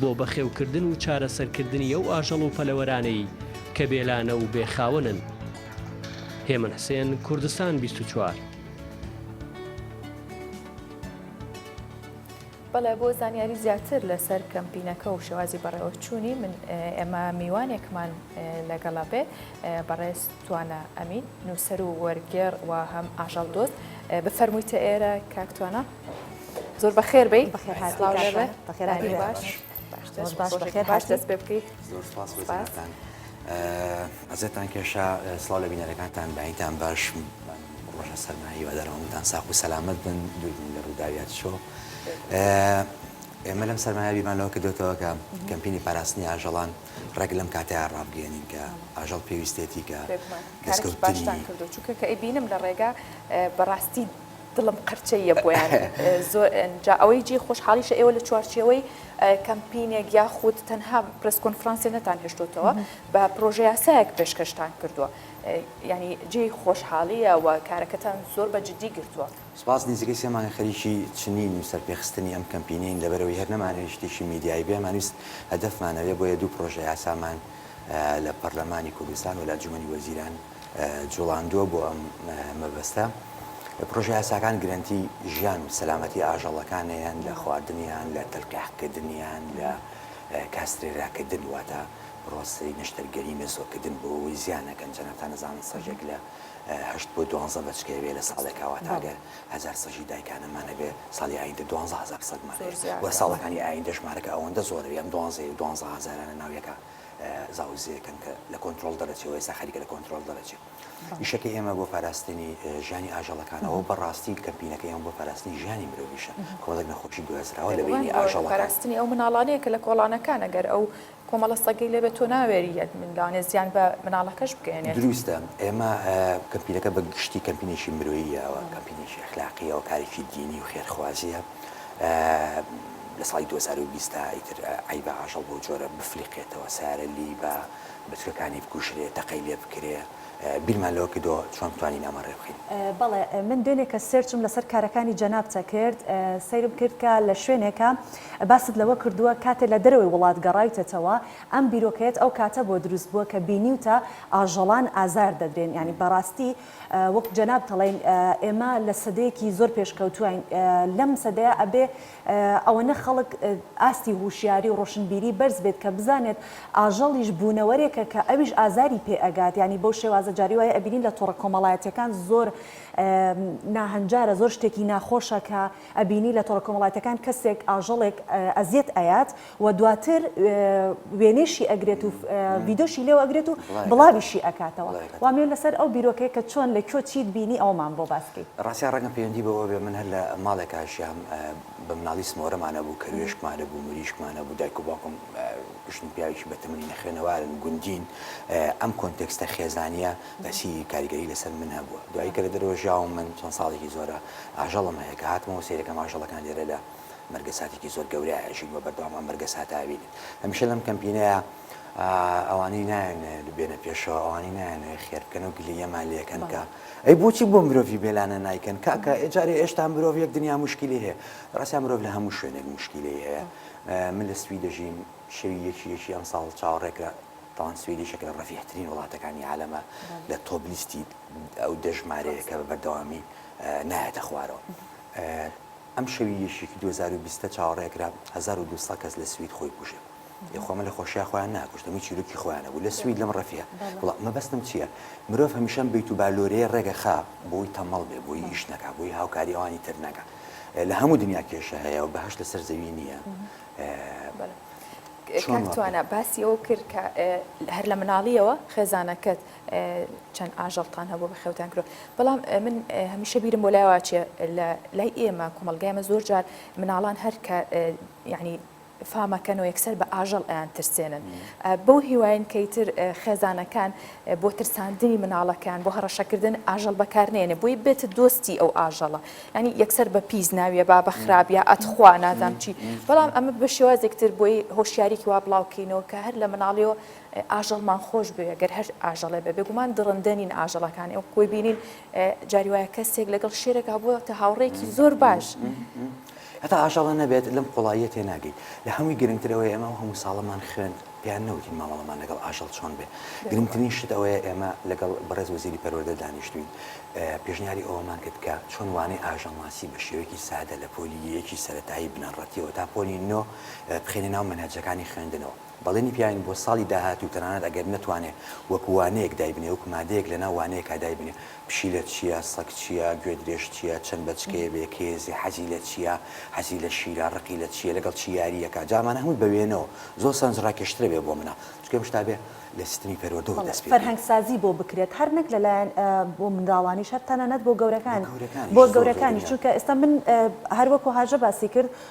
بۆ بەخێوکردن و چارەسەرکردنی ئەو ئاژەڵ و پەلەوەرانەی کە بێلانە و بێ خاوەنن. هێمن حسێن، کوردستان بیست و چوار. بەڵێ بۆ زانیاری زیاتر لەسەر کەمپینەکە و شێوازی بەڕێوەچوونی من ئێمە میوانێکمان لەگەڵە بێ بەڕێز توانا ئەمین نووسەر و وەرگێڕ و هەم ئاژەڵ دۆست بفەرموویتە ئێرە کاکتوانە. زۆر بەخێر بی ئەزێتان کێشا سڵاو لە بینەرەکانتان بەینتان باش ڕۆژە سەرمایی وەدەرەوەمتان ساخ و سەلامت بن دووربن لە ڕووداویات شۆ ئێمە لەم سەرمایە بیمانەوە کە دۆتەوە کە کەمپینی پاراستنی ئاژەڵان ڕێک لەم کاتەیە ڕابگەێنین کە ئاژەڵ پێویستێتی کە دەستکەوتانی کردو چونکە کە ئەی بینم لە ڕێگا بەڕاستی دڵم قرچە یە بۆیان زۆر ئنجا ئەوەی جێی خۆشحاڵیشە ئێوە لە چوارچێوەی کەمپینێک یاخود تەنها پرس کۆنفرانسێ نەتان هێشتوتەوە بە پرۆژە یاسایەک پێشکەشتان کردووە ینی جێی خۆشحاڵیە و کارەکەتان زۆر بە جددی گرتووە. سپاس نزیکەی سێ مانگە خەریکی چنین و سەرپێخستنی ئەم کەمپینەین لەبەرئەوەی هەر نەمانەوێت شتێکی میدیایی بێ مانویست هەدەفمان ئەوێ بۆیە دوو پرۆژە یاسامان لە پەرلەمانی کوردستان و لە ئەنجومەنی وەزیران جوڵاندووە بۆ ئەم مەبەستە. پڕۆژە یاساکان گرەنتی ژیان و سەلامەتی ئاژەڵەکانیان لە خواردنیان، لە تەلقیحکردنیان، لە کاسترێراکردن واتە پڕۆسەی نەشتەرگەری مێزۆکردن بۆ ئەوەی زیان نەکەن، جەناب تا نەزانن سەگێک لە هەشت بۆ دوانزە بەچکە هەبێ لە ساڵێکا واتە ئەگەر هەزار سەگی دایکانەمان هەبێ ساڵی ئایندە دوانزە هەزار سەگمان هەیە و ساڵەکانی ئایندە ژمارەکە ئەوەندە زۆرە ئەم دوانزە و دوانزە هەزارانە ناو یەکا زاوزێکەن کە لە کۆنترۆڵ دەرەچێ و ئێستا خەریکە لە کۆنترۆڵ دەرەچێ. ئیشەکەی ئێمە بۆ پاراستنی ژیانی ئاژەڵەکانە و بەڕاستی کەمپینەکەی ئێمە بۆ پاراستنی ژیانی مرۆڤیشە، کۆمەڵێک نەخۆشی گوێزراوە لە بینی ئاژەڵەکان. پاراستنی ئەو مناڵانەیە کە لە کۆڵانەکانە، گەر ئەو کۆمەڵە سەگەی لێ بێت تۆ ناوێریت لەوانەیە زیان بە مناڵەکەش بگەیەنێت. دروستە، ئێمە کەمپینەکە بە گشتی کەمپینێکی مرۆییە و کەمپینێکی ئەخلاقییە و کارێکی دینی و خێرخوازییە. لە ساڵی دوو هەزار و بیست دا ئیتر عەیبە ئاژەڵ بەو جۆرە بفلیقێتەوە، سەیارە لیبە بە تورکانی بکوژرێ، تەقەی لێ بکرێ، بیرمان لەوە کردووە چۆن بتوانین ئەمە ڕێ بخەین. بەڵێ من دوێنێکە سێرچم لەسەر کارەکانی جەنابتە کرد، سەیرم کرد کە لە شوێنێکا باست لەوە کردووە کاتێ لە دەرەوەی وڵات گەڕاویتەتەوە ئەم بیرۆکەیەت ئەو کاتە بۆ دروست بووە کە بینیوتە ئاژەڵان ئازار دەدرێن، یانی بەڕاستی وەک جەناب تەڵێن ئێمە لە سەدەیەکی زۆر پێشکەوتوین لەم سەدەیە ئەبێ ئەوەنە خەڵک ئاستی هوشیاری و ڕۆشنبیری بەرز بێت کە بزانێت ئاژەڵیش بونەوەرێکە کە ئەویش ئازاری پێ ئەگات یانی بەو شێوازە جاری وایە ئەبینین لە تۆڕە کۆمەڵایەتیەکان زۆر ناهەنجارە زۆر شتێکی ناخۆشە کە ئەبینی لە تۆڕە کۆمەڵاتەکان کەسێک ئاژەڵێک ئەزیەت ئەیات و دواتر وێنەیشی ئەگرێت و ڤیدۆشی لێو ئەگرێت و بڵاویشی ئەکاتەوە وامێ لەسەر ئەو بیرۆکەیە کە چۆن لە کوێ چیت بینی ئەوەمان بۆ باسکەی ڕاستە ڕەنگە پەیوەندی بەوە بێ من هەر لە ماڵێکا ژیام بە مناڵی سمۆرەمان نەبوو کەروێشکمان نەبوو مریشکمان نەبوو دایک و باوکم ژن و پیاوێکی بەتەمەنی نەخوێنەوارن گوندین ئەم کۆنتێکستە خێزانیە بەسی کاریگەری لەسەر من هەبووە دوایی کە لە دەرەوە ژیاوم من چەند ساڵێکی زۆرە ئاژەڵم هەیە کە هاتمەوە سەیرەکەم ئاژەڵەکان لێرەدا مەرگە ساتێکی زۆر گەورەیە ئەژین وە بەردەوام ئەم مەرگە ساتە ئەبینن هەمیشە لەم کەمپینەیە ئەوانەی نایەن بێنە پێشەوە ئەوانەی نایەن خێر بکەن و گلیەمان لەکەن کە ئەی بۆچی بۆ مرۆڤی بێلانە نایکەن کاکە ئێجارێ ئێشتا مرۆڤ یەک دنیا مشکلی هەیە ڕاستە مرۆڤ لە هەموو شوێنێک مشکلی هەیە من لە سوی دەژین شەوی یەکی یەکی ئەم ساڵ چاوەڕێکرا تاوان سوێدی شەکە لە ڕەفیحترین وڵاتەکانی عالەمە لە تۆبلیستی ئەو دەژمارەیە کە بە بەردەوامی نایەتە خوارەوە. ئەم شەوی یەکیکی دوو هەزار و بیست چاوەڕێ ئەکرا هەزار و دوو سەد کەس لە سوید خۆی بکوژێ ئێ خۆ ئەمە لە خۆشیا خۆیان ناکوشت ئەمەی چیرۆکی خۆیانە بوو لە سوید لەم ڕەفیە وڵا مەبەستم چیە مرۆڤ هەمیشە ئەم بەیت و بالۆرەیە ڕێگە خا بۆی تەمەڵ بێ بۆی ئیش نەکا بۆی هاوکاری ئەوانی تر نەکا لە هەموو دنیا کێشە هەیە و بەهەشت لەسەر زەوی نییە کاک توانا باسی ئەوە کرد کە هەر لە مناڵیەوە خێزانەکەت چەند ئاژەڵتان هەبوو بەخێوتان کرد بەڵام من هەمیشە بیرم بۆ لایواچێ لە لای ئێمە کۆمەلگایمە زۆر جار مناڵان هەر کە یعنی فامەکەن و یەکسەر بە ئاژەڵ ئەیان ترسێنن بەو هیواین کەیتر خێزانەکان بۆ ترساندنی مناڵەکان بۆ هەڕەشەکردن ئاژەڵ بەکارنێنێ بۆی بێت دۆستی ئەو ئاژەڵە ینی یەکسەر بە پیس ناویە با بە خراپ یا ئەتخوا نازام چی بەڵام ئەمە بە شێوازێکتر بۆی هۆشیارێکی وا بڵاوکەینەوە کە هەر لە مناڵیەوە ئاژەڵمان خۆش بوێ گەر هەر ئاژەڵێ بێ بێگومان دڕندە نین ئاژەڵەکان ئێوە کۆی بینین جاری وایە کەسێک لەگەڵ شێرەکە بووە تە هاوڕێکی زۆر باش هەتا ئاژەڵە نەبێت لەم قوڵاییە تێ ناگەیت لە هەمووی گرنگترەوەی ئێمە و هەموو ساڵەمان خوێند پێیان نەوتین مامەڵەمان لەگەڵ ئاژەڵ چۆن بێ گرنگترین شت ئەوەیە ئێمە لەگەڵ بەڕێز وەزیری پەروەردە دانیشتوین پێشنیاری ئەوەمان کرد کە چۆن وانەی ئاژەڵناسی بە شێوەیەکی سادە لە پۆلی یەکی سەتایی بنەڕەتیەوە تا پۆلی نۆ بخێنە ناو مەنهەجەکانی خوێندنەوە بەڵێنی پیاین بۆ ساڵی داهاتوو تەنانەت ئەگەر نەتوانێ وەکو وانەیەک دایبنێ وەکو مادەیەک لەناو وانەیەکا دایبنێ پشیلە چیە سەگ چیە گوێدرێژ چیە چەند بەچکەیە بێ کێزی حەزی لە چیە حەزی لە شیرە ڕقی لە چیە لەگەڵ چی یاری ئەکا جا ئەمانە هەمووی بە وێنەوە زۆر سەرنج ڕاکێشترە بێ بۆ مناڵ چونکە ئەم شتابێ لە سیستمی پەروەردەوە دەست بەڵێ پێ بکەی. فەرهەنگ سازی بۆ بکرێت هەر نەک لەلایەن بۆ منداڵانیش هەر تەنانەت بۆ بۆ گەورەکان گەورەکانیش بۆ زۆر زۆر گەورەکانیش گرنگە. چونکە ئێستا من هەر وەکو هاژە باسی کرد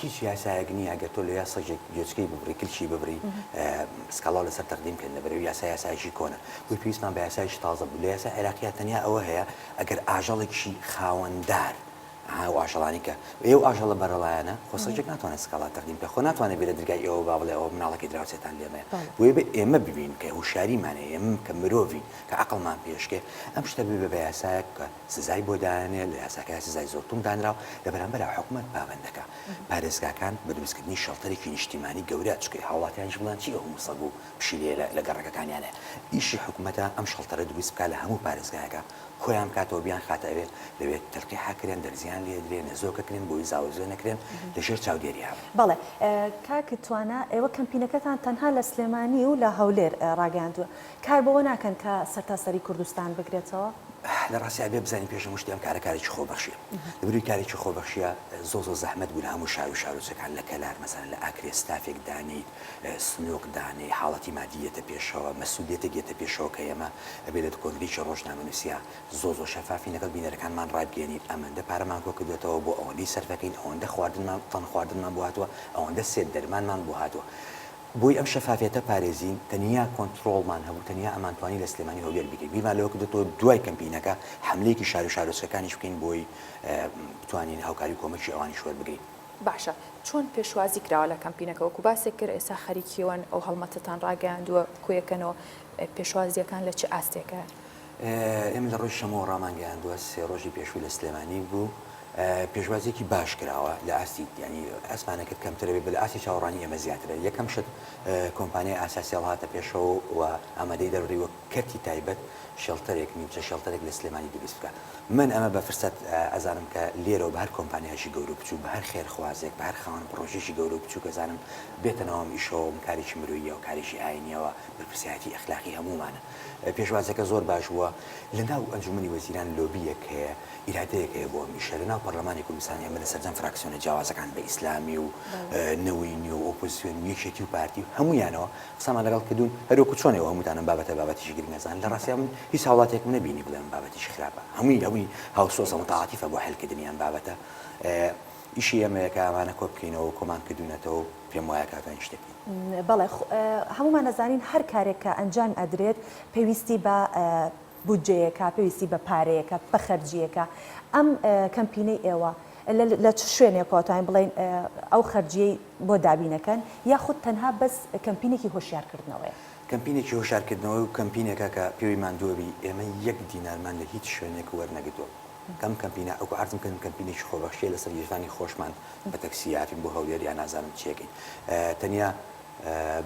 هیچ یاسایەک نیە ئەگەر تۆ لە یا سەگێک گوێچکەی ببڕی کلکی ببری سکاڵاو لەسەر تەقدیم بکەن لە بەرەو یاسا یاسایەکی کۆنە بۆی پێویستمان بە یاسایەکی تازە بوو لە یاسای عێراقیا تەنیا ئەوە هەیە ئەگەر ئاژەڵێکی خاوەندار ئەها ئەو ئاژەڵانەی کە ئێ و ئاژەڵە بەرەڵایەنە خۆ سەگێک ناتوانێت سکاڵا تەقدیم بکە خۆ ناتوانێت بێرە درگای ئێوە با بڵێ ئەوە مناڵەکەی دراوسێتان لێمەیە بۆیە بێ ئێمە ببین کە هوشیاریمان هەیە ئێمە کە مرۆڤین کە عەقڵمان پێشکێ ئەم شتە ببێ بە یاسایەک کە سزای بۆ دانێ لە یاساکەیا سزای زۆر توند دانرا و لە بەرامبەرا حکومەت پابەندەکا پارێزگاکان بە دروستکردنی شەڵتەرێکی نیشتیمانی گەورە چکەی هاوڵاتیانیش بڵێن چی ئەوهەموو سەگ و پشیلەیە لە لە گەڕەکەکانیان هەیە ئیشی حکومەتە ئەم شەڵتەرە دروست بکا لە هەموو پارێزگایەکا کۆیان بکاتەوە بیان خاتە ئەوێ لەوێ تەلقیحا کرێن دەرزیان لێ درێ نەزۆکە کرێن بۆوی زاوەزوێ نەکرێن لە ژێر چاودێریا بن. بەڵێ کاک توانا ئێوە کەمپینەکەتان تەنها لە سلێمانی و لە هەولێر ڕاگەیاندووە کار بەوە ناکەن کە سەرتاسەری کوردستان بگرێتەوە؟ لە ڕاستیا ئەبێ بزانین پێش هەموو شتێ ئەم کارە کارێکی خۆبەخشییە. لە بەرووی کارێکی خۆبەخشییە زۆر زۆر زەحمەت بوو لە هەموو شار و شارۆچەکان لە کەلار مەسەلەن لە ئاکرێ ستافێک دانێیت، سنووق دانێی، حاڵەتی مادی یێتە پێشەوە، مەسئوولییەتێک یێتە پێشەوە کە ئێمە ئەبێ لە کۆنگرەیەکی ڕۆژنامەنووسیا زۆر زۆر شەفافین لەگەڵ بینەرەکانمان ڕابگەیەنین ئەمەندە پارەمان کۆ کردووەتەوە بۆ ئەوەندەی سەرفەکەین ئەوەندە خواردنمان تەن خواردنمان بۆ هاتووە ئەوەندە سێت دەرمانمان بۆ هاتووە بۆی ئەم شەفافیەتە پارێزین تەنیا کۆنتڕۆڵمان هەبوو تەنیا ئەمانتوانی لە سلێمانی هەولێر بگرین بیرمان لەوە کردۆتەوە دوای کەمپینەکە حەملەیەکی شارو شارۆچکەکانیش بکەین بۆی بتوانین هاوکاری و کۆمەکی ئەوانیش وەربگرین. باشە چۆن پێشوازی کراوە لە کەمپینەکە وەکو باسێک کرد ئێستا خەریکیوەن ئەو هەڵمەتەتان ڕاگەیاندووە کۆیەکەنەوە پێشوازیەکان لە چ ئاستێکە؟ ئێمە لە ڕۆژی شەممەوە ڕامانگەیاندووە، سێ ڕۆژی پێشوو لە سلێمانی بوو، پێشوازییەکی باش کراوە، لە ئاستی یانی ئەسمانەکەت کەمترە بێت، بە لە ئاستی چاوەڕانی ئێمە زیاترە، یەکەم شت کۆمپانیای ئاسیا سێڵ هاتە پێشەوە و ئامادەی دەربڕی وەک کەرتی تایبەت شێڵتەرێک، نیمچە شێڵتەرێک لە سلێمانی دروست بکا. من ئەمە بە فرسەت ئەزانم کە لێرەوە بە هەر کۆمپانیایەکی گەورە و بچووک، بە هەر خێرخوازێک، بە هەر خاوەن پڕۆژەیەکی گەورە و بچووک ئەزانم بێتە ناو ئەم ئیشەوە، ئەم کارێکی مرۆییە و کارێکی ئایینییە و بەرپرسیارێتی ئەخلاقی هەموومانە. پێشوازەکە زۆر باش بووە. لە ناو ئەنجومەنی وەزیران لۆبییەک هەیە، ئیرادەیەک هەیە بۆ ئەم ئیشە. لە ناو پەڕلەمانی کوردستان ئێمە لە سەرجەم فراکسیۆنە جیاوازەکان بە ئیسلامی و نەوەی نوێ و ئۆپۆزسیۆن و یەکێتی و پارتی و هەموویانەوە قسەمان لەگەڵ کردوون. هەر وەکوو چۆن ئێوە هەمووتان ئەم بابەتە بابەتێکی گرنگ ئەزانن، لە ڕاستیا من هیچ هاوڵاتییەکم نەبینی بڵێ ئەم بابەتێکی خراپە. هەمووی هەمووی هاوسۆزە و متعاطفە بۆ حەلکردنی ئەم بابەتە. ئیشی ئێمەیە کە ئەمانە کۆ بکەینەوە و کۆمان کردوونەتەوە و. پێم وایە کاکە هیچ شتێک نین. بەڵێ هەموومان ئەزانین هەر کارێک کە ئەنجام ئەدرێت پێویستی بە بودجەیەکە، پێویستی بە پارەیەکە، بە خەرجییەکە. ئەم کەمپینەی ئێوە لە چ شوێنێکەوە توانین بڵێین ئەو خەرجییەی بۆ دابین ئەکەن یاخود تەنها بەس کەمپینێکی هۆشیارکردنەوەیە؟ کەمپینێکی هۆشیارکردنەوەی و کەمپینێکە کە پێوەی ماندووە بی، ئێمە یەک دینارمان لە هیچ شوێنێک وەرنەگرتووە. ئەم کەمپینە ئەوکو عەرزم کردم کەمپینێکی خۆبەخشییە لەسەر گیرفانی خۆشمان بە تەکسی هاتین بۆ هەولێر یا نازانم چی ئەکەین تەنیا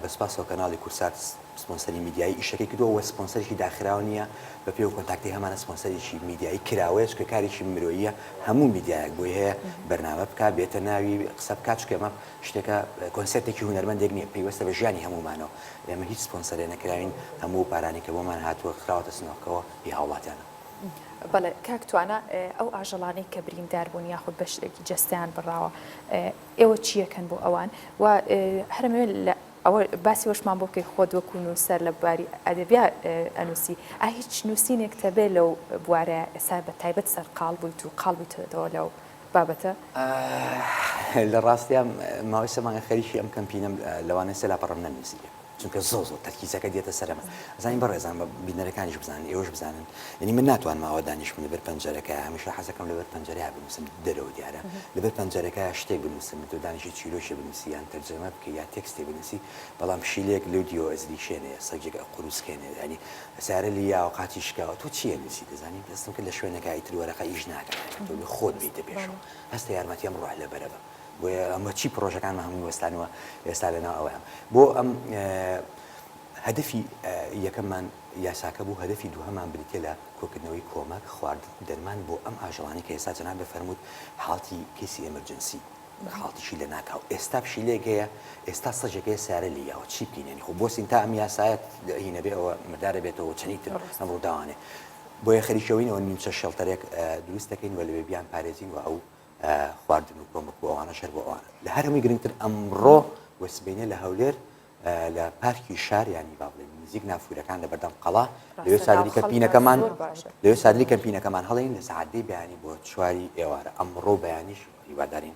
بە سپاسەوە کەناڵی کورسات سپۆنسەری میدیایی ئیشەکەی کردووە وە سپۆنسەرێکی داخراو نییە بە پێی و کۆنتاکتی هەمانە سپۆنسەرێکی میدیایی کراوەیە چکە کارێکی مرۆییە هەموو میدیایەک بۆی هەیە بەرنامە بکە بێتە ناوی قسە بکات چکە ئەمە شتێکە کۆنسێپتێکی هونەرمەندێک نییە پەیوەستە بە ژیانی هەمومانەوە ئێمە هیچ سپۆنسەرێ نەکراوین هەموو پارانی کە بۆمان هاتووە خراوەتە سنۆکەوە هی هاوڵاتیانە بەڵێ کاک توانا ئەو ئاژەڵانەی کە بریندار بوون یاخود بەشێکی جەستەیان بڕاوە ئێوە چیەکەن بۆ ئەوان و هەرمەوێت لە ئەوە باسی وەشمان بۆ بکەی خۆت وەکو نووسەر لە بواری ئەدەبیا ئەنووسی ئا هیچ نووسینێک تەبێ لەو بوارە ئێستا بە تایبەت سەرقال بوویت و قال بوویتەوە لەو بابەتە لە ڕاستیان ماوەی سەمانە خەریکی ئەم کەمپینەم لەوانەیە سەلاپەڕم نەنووسیبێ چونکە زۆر زۆر تەرکیزەکە دێتە سەرم ئەزانی بەڕێزان بە بینەرەکانیش بزانن ئێوەش بزانن یعنی من ناتوانم ئاوا دانیشم لەبەر پەنجەرەکە هەمیشە حەزەکەم لەبەر پەنجەرەیە بنووسم دەرەوە دیارە لەبەر پەنجەرەکە شتێک بنووسم تۆ دانیشی چیرۆکی بنووسی یان تەرجەمە بکەی یا تێکستی بنووسی بەڵام پشیلەیەک لێو دیەوە ئەزری شێنێ سەگێک ئەقوروس کێنێ یعنی سارە لە یاوە قاچی شکاوە تۆ چییە نووسی دەزانی دەستم کرد لە شوێنەکە ئیتر وەرەقە ئیش ناکات یعنی تۆ بێ خۆت بێیتە پێشەوە هەستە یارمەتیم ڕۆح لەبەرە بم بۆیە ئەمە چی پڕۆژەکانمان هەمووی وەستانوە ئێستا لەناو ئەوەیە بۆ ئەم هەدەفی یەکەممان یاساکە بوو هەدەفی دووهەمان بریتە لە کۆکردنەوەی کۆمەک خوارد دەرمان بۆ ئەم ئاژەڵانی کە ئێستا جەناب دەفەرمووت حاڵتی کەیسی ئەمرجنسی حاڵتیشی لە ناکاو ئێستا پشیلێک هەیە ئێستا سەجێکەیە سارە لە یاوە چی بکەینێنی خۆ بۆسین تا ئەم یاسایەت هینەبێ ئەوە مردارە بێتەوە چەنی تر ئەم ڕووداوانێ بۆیە خەریکەوەینەوە نیوچە شەڵتەرێک دروست دەکەین و لەوێ بیان پارێزین و ئەو خواردن و کۆمەک و ئەوانەش هەر بۆ ئەوانە لە هەرمی گرنگتر ئەمڕۆ و سبینێ لە هەولێر لە پارکی شاریانی با بڵێن نزیک نافورەکان لە بەردەم قەڵا لەوێ سادری کەپینەکەمان لەوێ سادری کەمپینەکەمان هەڵین لە سعادی بیانی بۆ چواری ئێوارە ئەمڕۆ بەیانیش هیوادارین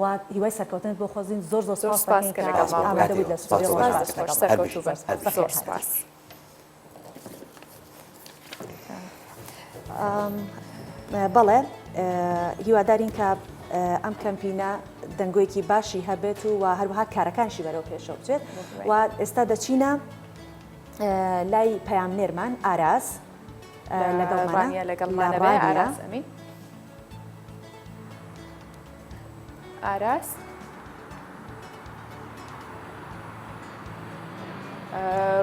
و هیوای سەرکەوتنت بۆ خۆزین زۆر زۆر سپاست دەکەین کە ئامادە بوویت لە ستۆدیۆ زۆر سپاس لەگەڵ دەکەین بەخێر هاتیت بەخێر هاتیت. بەڵێ هیوادارین کە ئەم کەمپینە دەنگۆیەکی باشی هەبێت و و هەروها کارەکانشی بەرەو پێشەوە بچێت و ئێستا دەچینە لای پەیام نێرمان ئاراس لەگەڵ لەگەڵ مانەوەی ئاراس ئەمین. ئاراس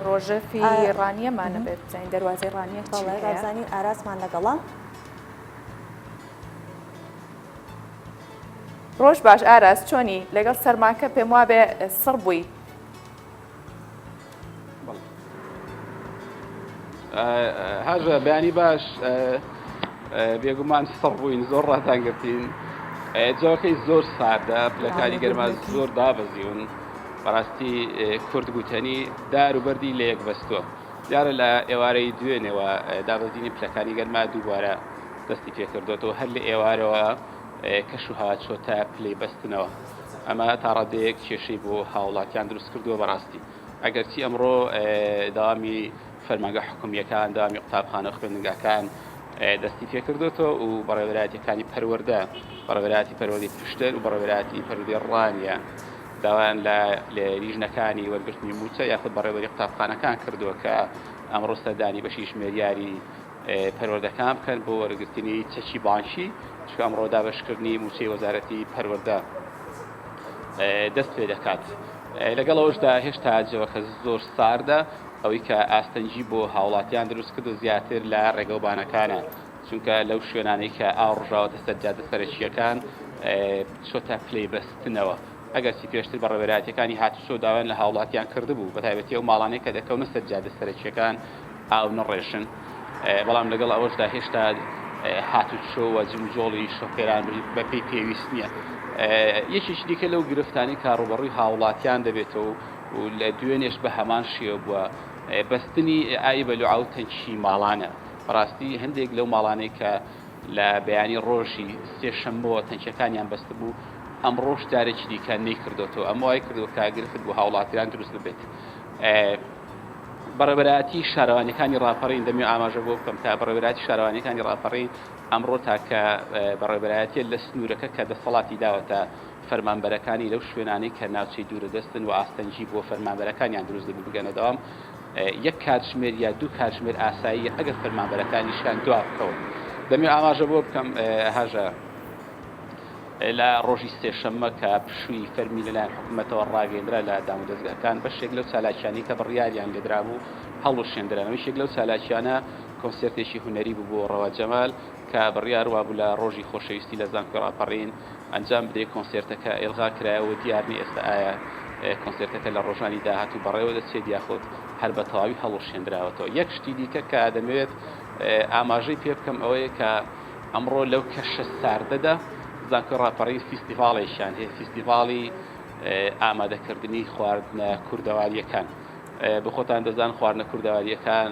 ڕۆژەفی ڕانیەمانە بێت بزانین دەواازەی ڕانیە بەڵێزانین ئاراسمان لەگەڵە ڕۆژ باش ئاراس چۆنی لەگەڵ سەرماکە پێم وابێ سڕ بووی هاژە بەیانی باش بێگومان سڕ بووین زۆر ڕاتان گرتین جاکەی زۆر ساردە پلەکانی گەرما زۆر دابەزیون بەڕاستی کورد گوتەنی دار و بەردی لە یەک بەستووە دیارە لە ئێوارەی دوێنێەوە دابەزینی پلەکانی گەرما دووبارە دەستی پێکردوێتەوە هەر لە ئێوارەوە کەش و هاچۆتە پلەی بەستنەوە ئەمە تاڕادەیەک کێشەی بۆ هاوڵاتیان دروست کردووە بەڕاستی ئەگەرچی ئەمڕۆ داوامی فەرمانگە حکومیەکان داوامی قوتابخانە خوێندنگاکان دەستی پێکردوێتەوە و بەڕێوەراتەکانی پەروەەردە بەڕێوەراتی پەروەردی پشتەر و بەڕێوەراتی پەروەردی ڕانیە داوایان لە لیژنەکانی وەرگرتنی موچە یاخود بەڕێوەری قوتابخانەکان کردووە کە ئەمڕۆ سەردانی بەشی ژمێریاری پەروەردەکان بکەن بۆ وەرگرتنی چەکی بانکی چکە ئەمڕۆ دابشکردنی موچەی وەزارەتی پەروەەردە دەست پێ دەکات لەگەڵ ئەوشدا هێشتا جەوەکە زۆر ساردە ئەوەی کە ئاستەنگی بۆ هاوڵاتیان دروست کردو زیاتر لە ڕێگەوبانەکانە چونکە لەو شوێنانەی کە ئاو ڕژاوەتە سەرجادە سەرەکیەکان چۆتە پلەی بەستنەوە ئەگەرچی پێشتر بەڕێوەبەرایەتییەکانی هاتوچۆ داوایان لە هاوڵاتیان کردبوو بەتایبەتی ئەو ماڵانەی کە دەکەونە سەر جادە سەرەکییەکان ئاو نەڕێژن، بەڵام لەگەڵ ئەوەشدا هێشتا هاتوچۆ و جموجۆڵی شۆفێران بەپێی پێویست نییە. یەکێکی دیکە لەو گرفتانەی کە ڕووبەڕووی هاوڵاتیان دەبێتەوە و لە دوێنێش بە هەمان شێوە بووە، بەستنی ئای بەلوعە و تەنکی ماڵانە. بەڕاستی هەندێک لەو ماڵانەی کە لە بەیانی ڕۆژی سێ شەممەوە تەنکیەکانیان بەستبوو، ئەمڕۆش جارێکی دیکە نەیکردۆتەوە، ئەمە وای کردووە کە گرفت بۆ هاوڵاتیان دروست ببێت. بەڕێوەبەرایەتی شارەوانیەکانی ڕاپەڕین دەمەوێت ئاماژە بۆ بکەم کە بەڕێوەبەرایەتی شارەوانیەکانی ڕاپەڕین ئەمڕۆ تاکە بەڕێوەبەرایەتیە لە سنوورەکە کە دەسەڵاتی داوەتە فەرمانبەرەکانی لەو شوێنانەی کە ناوچەی دوورە دەستن و ئاستەنگی بۆ فەرمانبەرەکانیان دروست دەبێت بگەنە دەوام یەک کاتژمێر یا دوو کاتژمێر ئاساییە ئەگەر فەرمانبەرەکانیشیان دوا بکەون. دەمەوێت ئاماژە بەوە بکەم هەژە لە ڕۆژی سێشەممە کە پشووی فەرمی لەلایەن حکوومەتەوە ڕاگەیندرا لە دامودەزگاکان بەشێک لەو چالاکیانی کە بڕیاریان لێدرابوو هەڵوشێندرانەوە یەک لەو چالاکیانە کۆنسرتێکی هونەری بوو بۆ ڕەوا جەمال کە بڕیار وابوو لە ڕۆژی خۆشەویستی لە زانکۆی ڕاپەڕین ئەنجام بدرێت کۆنسێرتەکە ئێلغا کرایەوە و دیار نیە ئێستا ئایا کۆنسێرتەکە لە ڕۆژانی داهاتوو بەڕێوە دەچێت یاخود هەر بە تەواوی هەڵوەشێنراوەتەوە یەک شتی دیکە کە دەمەوێت ئاماژەی پێ بکەم ئەوەیە کە ئەمڕۆ لەو کەشە ساردەدا زانکۆی ڕاپەڕین فیستیڤاڵێکیان هەیە فیستیڤاڵی ئامادەکردنی خواردنە کوردەوارییەکان بۆ خۆتان دەزان خواردنە کوردەوارییەکان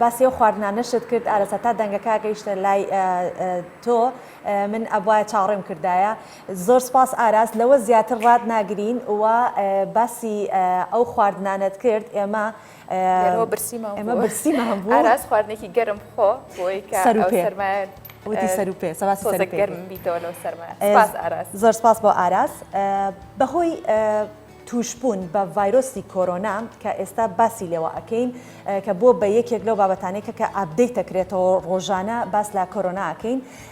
باسی ئەو خواردنانەشت کرد ئارەسە تا دەنگەکە گەیشتە لای تۆ من ئەبوایە چاوەڕێم کردایە زۆر سپاس ئاراس لەوە زیاتر ڕات ناگرین و باسی ئەو خواردنانەت کرد ئێمە لێرەوە برسیمان ئێمە بوو. برسیمان بوو. ئاراس خواردنێکی گەرم بخۆ بۆی کە سەر و ئەو پێ. سەرمایە وتی سەر و پێ سەباسی سەر و تۆزێک پێ گەرم بیتەوە لەو سەرمایە ئێز سوپاس ئاراس زۆر سپاس بۆ ئاراس ئە بە هۆی ئە تووشبوون بە ڤایرۆسی کۆرۆنا کە ئێستا باسی لێوە ئەکەین ئە کە بووە بە یەکێک لەو بابەتانەی کە کە ئاپدەیت ئەکرێتەوە ڕۆژانە باس لە کۆرۆنا ئەکەین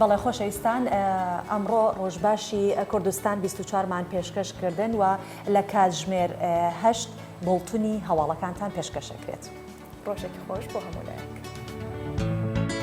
بەڵێ خۆشەویستان ئەمڕۆ ڕۆژباشی کوردستان 24 مان پێشکەش کردن و لە کاتژمێر هەشت بڵتنی هەواڵەکانتان پێشکەشەکرێت ڕۆژێکی خۆش بۆ هەمولایەک.